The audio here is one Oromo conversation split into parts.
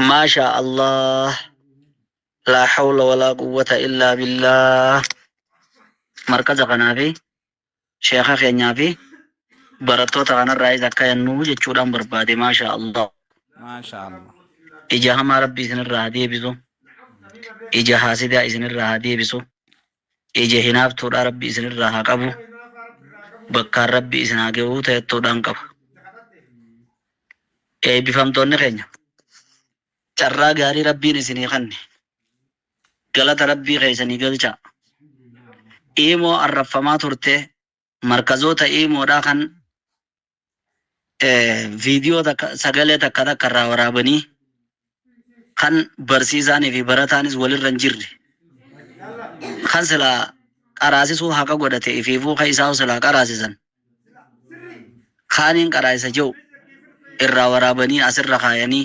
Maashaa Allah laa hawla walaa quwwata illaa billaah markaza kanaa fi sheekha keenyaa fi barattoota kanarraayis akka yannuu jechuudhaan barbaade maashaa Allah Maashaallah. ija hamaa rabbi isinirraa haa deebisu ija haasidaa isinirraa haa deebisu Ija hinaaftuudhaa rabbi isin irraa haa qabu bakkaan rabbi isin haa gehuu tayattuudhaan qaba Eebbifamtoonni keenya carraa gaarii rabbiin isinii kanne galata rabbii keessanii galchaa Iimoo arrabfamaa turtee markazoota iimoodhaa kan viidiyoo takka sagalee takka takka irraa waraabanii kan barsiisaanii fi barataanis walirra hin jirre kan silaa qaraasisuu haqa godhate ifiifuu kan isaa silaa qaraasisan kaaniin qaraasisa jedhu irraa waraabanii asirra kaayanii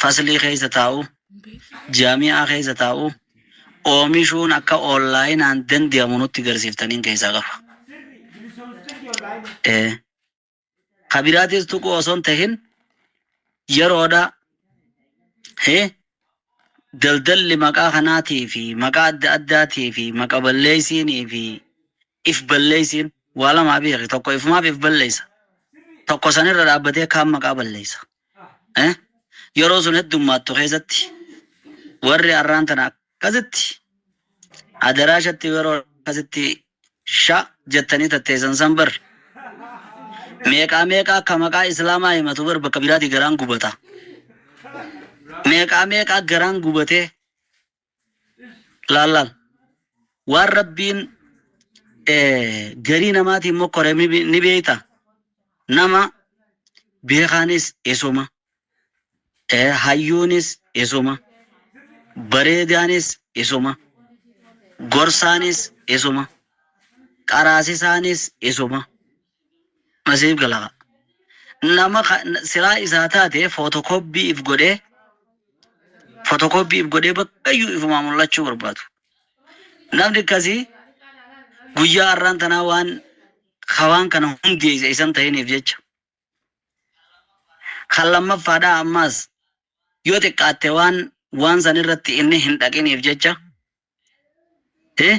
faslii keessa taa'u, jaami'aa keessa taa'u oomishuun akka onlaayinaan dandeamu nutti garsiiftaniin keessaa qaba. Ee. Ka biraatis tuquu osoo hin tahin yeroodha. Hee? Daldalli maqaa kanaatii fi maqaa adda addaatii fi maqa balleessiinii fi If balleessiin waa lamaa beeki tokko ifumaaf if balleessa tokko san irra dhaabbatee kaan maqaa balleessa. Eh? Yeroo sun heddummaattu keessatti warri arraan tana akkasitti adaraashatti yeroo akkasitti sha jettanii tatteessan san bar meeqaa meeqaa akka maqaa islaamaa himatu bar bakka biraatii garaan gubata. Meeqaa meeqaa garaan gubatee laal laal waan rabbiin eh, garii namaatiin mokkore ni be- ni beeyta nama beekaanis isuma eh, hayyuunis isuma bareedaanis isuma gorsaanis isuma qaraasisaanis isuma Nasiif gala kaa. Nama ka silaa isaa taate footokooppii if godhee footokooppii if godhee bakkayyuu ifumaa mul'achuu barbaadu. Namni akkasii guyyaa har'aan tanaa waan ka waan kana hundeesse isan ta'iniif jecha. Kan lammaffaadhaa ammaas yoo xiqqaatte waan waan san irratti inni hin dhaqiniif jecha. Eh?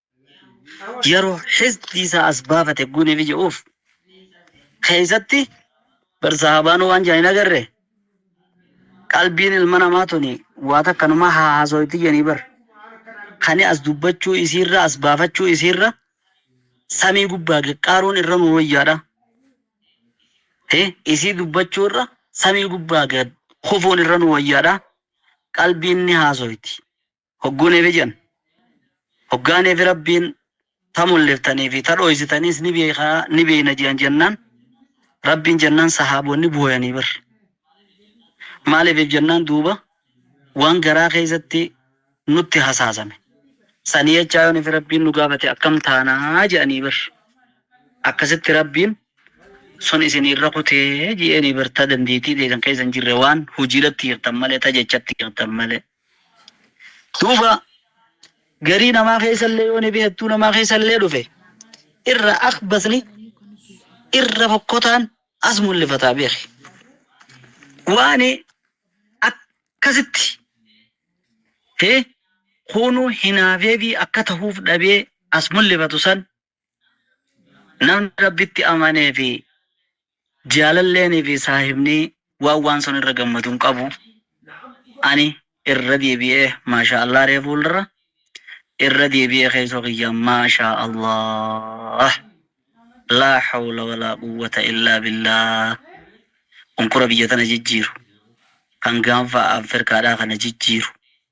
yeroo hizbni isaa as baafate guunee fi jedhuuf keessatti bar sahaabaan waan jedhan hin agarre qalbiin ilma namaa tuni waa takkanumaa haa haasooyti jedhanii bar kani as dubbachuu isiirra as baafachuu isiirra samii gubbaa gaqqaaruun irra nu wayyaadha. Eh, isii dubbachuu irra samii gubbaa gad kufuun irra nu wayyaadha. Qalbiin ni haasoyti. Hogguu neefi jennu. Hoggaa neefi Rabbiin ta mulliftanii fi ta dhooysitaniis ni beekha, ni beeyna je'an jennaan, Rabbiin jennaan sahaabonni booyanii bar. Maaliifif jennaan duuba waan garaa keeysatti nutti hasaasame sanii jechaa yoo neefi Rabbiin nu gaafate akkam taana je'anii bar. Akkasitti Rabbiin sun isinii irra kutee je'eenii bar ta dandeeytii teeysan keeysa hin jirre waan hujiidhatti hiiktan malee ta jechatti hiiktan malee. Duuba garii namaa keessallee yoo nibi hedduu namaa keessallee dhufe irra akhbasni irra fokkotaan as mullifataa beeki. Waani akkasitti hee kuunuu hinaafeefii akka tahuuf dhabee as mullifatu san Namni Rabbitti amanee fi jaalalleenii fi saahibnii waan waan sun irra gammadu hin qabu. Ani irra deebi'ee maashaa Allaah ree fuuldarra irra deebi'ee keessoo kiyya maashaa Allaah laa hawla walaa quwwata illaa billaah unkura biyya tana jijjiiru kan gaanfa Afrikaadhaa kana jijjiiru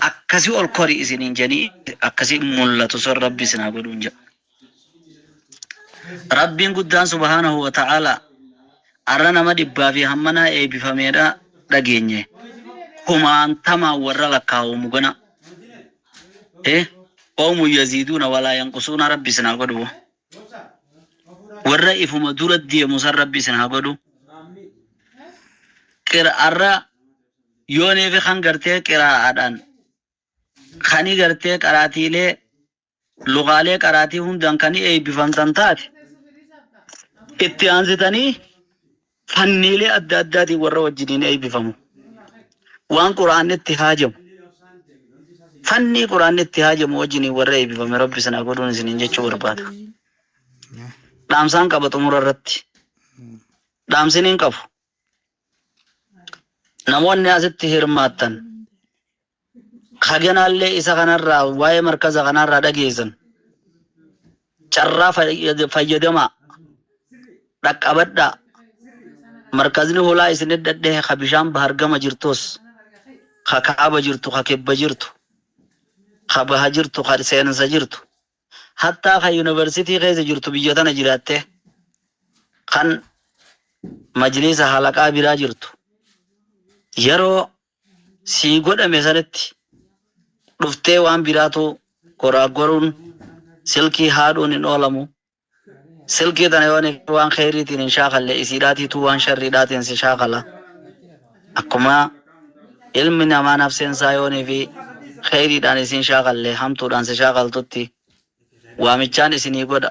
akkasi ol kori isiniin jedhanii akkasi mul'atu sun rabbi isin haa godhuun jedha. Rabbiin guddaan subhaanahu wa ta'ala arra nama dhibbaa fi hammanaa eebbifameedha dhageenye kumaantamaan warra lakkaa'amu gana. Eh, oomu yaziiduuna walaa yanqusuuna rabbi isin haa godhu. warra ifuma dura deemu san rabbi isin haa godhu qira'arra yooneefi kan gartee qiraa'aadhaan kani gartee qaraatiilee lugaalee qaraatii hundaan kani eebbifamtan taate itti aansitanii fanniilee adda addaatiin warra wajjiniin eeybifamu. Waan Qur'aanni itti haajamu, fannii Qur'aanni itti haajamu wajjiniin warra eeybifame Rabbi isin haa godhuun isiniin jechuu barbaada. Dhaamsaan qaba xumura irratti. Dhaamsiniin qabu, namoonni asitti hirmaattan, Haganaallee isa kanarraa waa'ee markaza kanaarraa dhageessan carraa fayyadamaa dhaqqabadhaa markazni holaa isin eddadhe ka bishaan bahar gama jirtos ka kaaba jirtu ka kebba jirtu ka baha jirtu ka seensa jirtu hattaa ka yuunivarsitii keessa jirtu biyya tana jiraatte kan majliisa halaqaa biraa jirtu yeroo sii godhame sanatti dhuftee waan biraatu goraaggoruun silkii haadhuun hin oolamu silkii tana yoo nifii waan kheyriitiin hin shaakalle isiidhaatiituu waan sharriidhaatiin si shaakala akkuma ilmi namaa nafseen isaa yoo nifii kheyriidhaan isiin shaakalle hamtuudhaan si shaakaltutti waamichaan isinii godha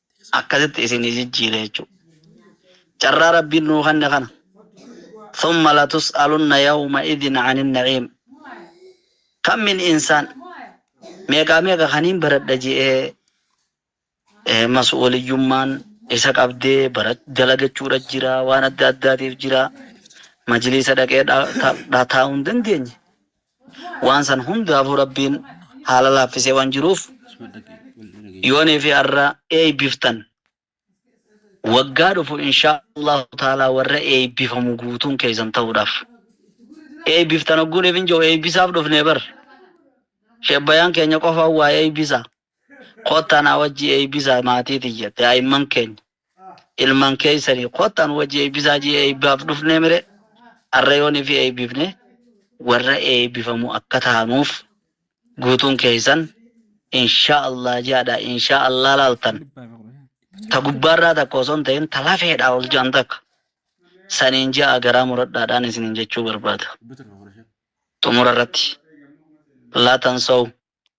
akkasitti isinii jijjiire jechuudha. Carraa Rabbiin nuu kenne kana. Thumma latus'alunna yawma idhin 'ani na'iim. Kam min insaan meeqaa meeqa kaniin baradha je'ee mas'uuliyyummaan isa qabdee dalagachuudha jira, waan adda addaatiif jira, majliisa dhaqee taa'uu hin dandeenye. waan san hundaafuu Rabbiin haala laaffisee waan jiruuf yoonii fi arra eeybiftan waggaa dhufu inshaa Allaahu taalaa warra eeybifamu guutuun keeysan tahuudhaaf eeybiftan hogguun ifin jahu eeybisaaf dhufnee bar Sheikh Bayaan keenya qofaan waa eeybisaa. Kottaa naa wajji eeybisaa maatii tiyya, daa'imman keenya, ilman keeysanii kottaa nu wajji eeybisaa jee eeybaaf dhufnee mire arra yoon ifi eeybifne warra eeybifamu akka taanuuf guutuun keeysan inshaa allaah jeadha inshaa allaah laaltan ta gubbaarraa takka osoo hin tahin ta lafeedhaa ol jean takka saniin jeaa garaa muradhaadhaan isiniin jechuu barbaada xumura irratti laa tansaw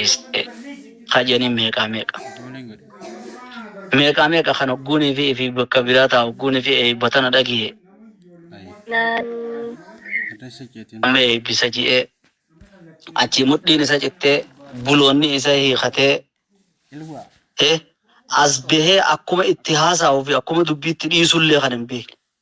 Is kajani meeqaa meeqa meeqaa meeqa kan hogguunii fi fi bakka biraa taa hogguunii fi eebbatana dhagiye amma eebbisa ji'ee achii mudhiin isa cittee buloonni isa hiikatee eh, as bahee akkuma itti haasa'uu fi akkuma dubbii itti dhiisullee kan hin beekne.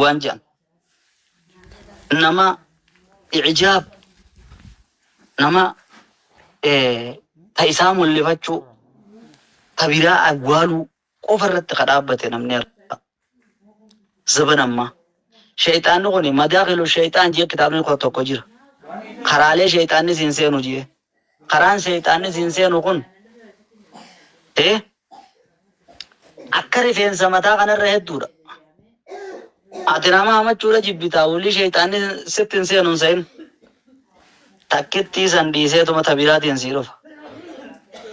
waan je'an nama i'jaab nama ta isaa mul'ifachuu ta biraa awwaaluu qofa irratti ka dhaabbate namni har'a zaban ammaa sheeyxaanni kun madaakilu sheeyxaan jee kitaabni tokko jira karaalee sheeyxaanni siin seenu jee Karaan sheyxaanni siin seenu kun e akka rifeensa mataa kana irra hedduudha. Ati nama hamachuudha jibbitaa wly sheyxaanni sitti hin seenu hin sehin. Takkittii san dhiiseetuma ta biraatiin sii dhufa.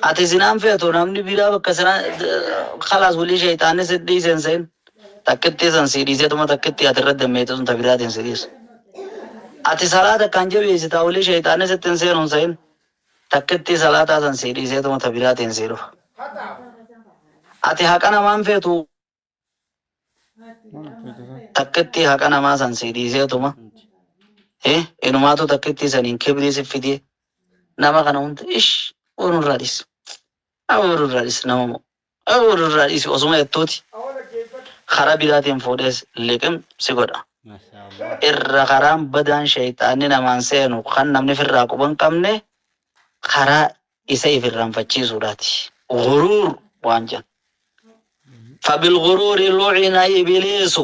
Ati zinaan feetu namni biraa bakka sanaa khalaas wly sheyxaanni sitti dhiise hin sehin. Takkittii san sii dhiiseetuma takkittii ati irratti dammeeyte sun ta biraatiin si dhiisa. Ati salaata akkaan jabeeysitaa wly sheyxaanni sitti hin seenu hin seyin. Takkittii salaataa san sii dhiiseetuma ta biraatiin sii dhufa. Ati haqa namaa hin feetu takkittii haqa namaa san sii dhiiseetuma hi inumaatu takkittii saniin kibrii si fidee nama kana hunda ish warra irraa dhis. Nama warra irraa dhis nama moo. Waa'ee wal irraa dhiisi osuma yattooti karaa biraatiin fuudhees liqim si godha. Mashaa Allah. Irra karaan badaan sheyxaanni namaan seenu kan namni firraa quba hin qabne karaa isa if irranfachiisuudhaati. Ghuruur waan jedhan. Fabilghuruuri lu'ina ibiliisu.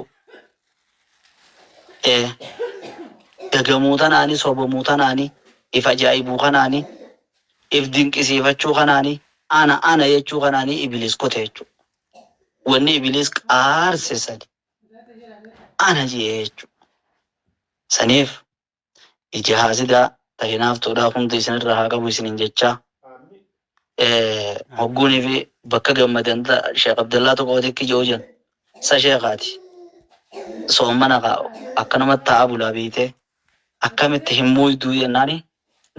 ee dagamuu tanaani, sobamuu tanaani, if ajaa'ibuu kanaani, if dinqisiifachuu kanaani, ana ana jechuu kanaani ibiliis kute jechuu. Wanni ibiliis qaarse sani ana jee jechuu. Saniif ija haasidaa ta hinaaftuudhaa hunda isin irraa haa qabu isiniin jechaa Eh, hogguunii fi bakka gammadan ta sheekh abdallaa tokko odeekki je'u jan sa sheekaati soommana ka akkanuma ta'a bulaa beeyte akkamitti hin muyduu jennaani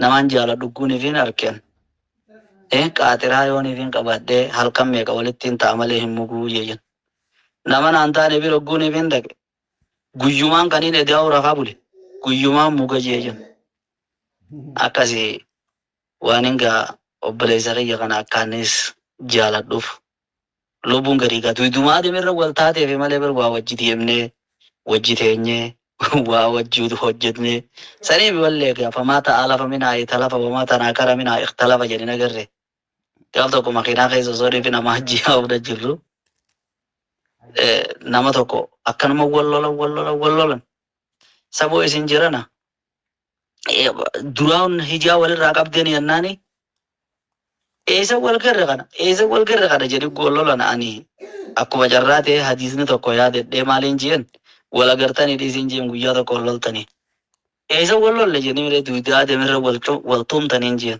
namaan jaala dhugguunii fi hin arken Eh, qaaxiraa yoonii fi hin qabaadhee halkan meeqa walittiin ta'a malee hin muguu jee jan nama naan taane bira hogguunii fi hin dhaqe Guyyumaan kaniin edaa'uu rafaa bule guyyumaan muga jee jenna. Akkasi waanin gaa obboleessa kiyya kana akkaanis jaaladhuuf lubbuun gadi gaa duydumaa demerra wal taateefi malee bar waa wajji deemnee wajji teenyee waa wajji hojjetnee saniif wallee gaa famaa ta'aa lafa minaa italafa wamaa tanaa kara minaa ikhtalafa jedhin agarre. gaaf tokko makiinaa keessa osoo reefi nama hajjii haa'uudha jirru nama tokko akkanuma wal lolan wal lolan wal lolan saboo isin jirana duraan hijaa walirraa qabdeen yannaani eessa wal garre kana eessa wal garre kana jedhi wal lolan ani akkuma carraa ta'e hadiisni tokko yaadadhee maaliin jeen wal agartanii dhiisiin jeen guyyaa tokko wal loltanii eessa wal lolle jennee miree duudaa deemirra wal tuumtaniin jeen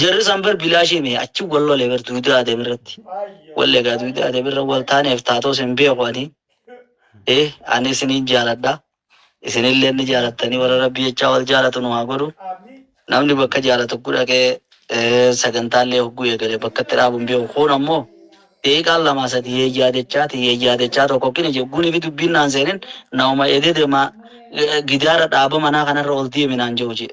Jarri san bar bilaashii mee achi wal lole bar duudaa adem irratti. Wallee gaa duudaa adem irra wal taaneef taatoos hin beeku ani. Eh ani isiniin jaaladha. Isinillee ni jaalattanii warra rabbi jechaa wal jaalatu nu haa godhu. Namni bakka jaalatu hogguu dhaqee eh, sagantaallee hogguu eegale bakka itti dhaabu hin beeku. Kun ammoo deeqaan lamaa sadi yeeyyaa dechaa ti yeeyyaa dechaa tokko kini jegguunii fi dubbiin naan seenin nauma edee demaa eh, gidaara dhaaba manaa kanarra ol deemi naan jehu jee.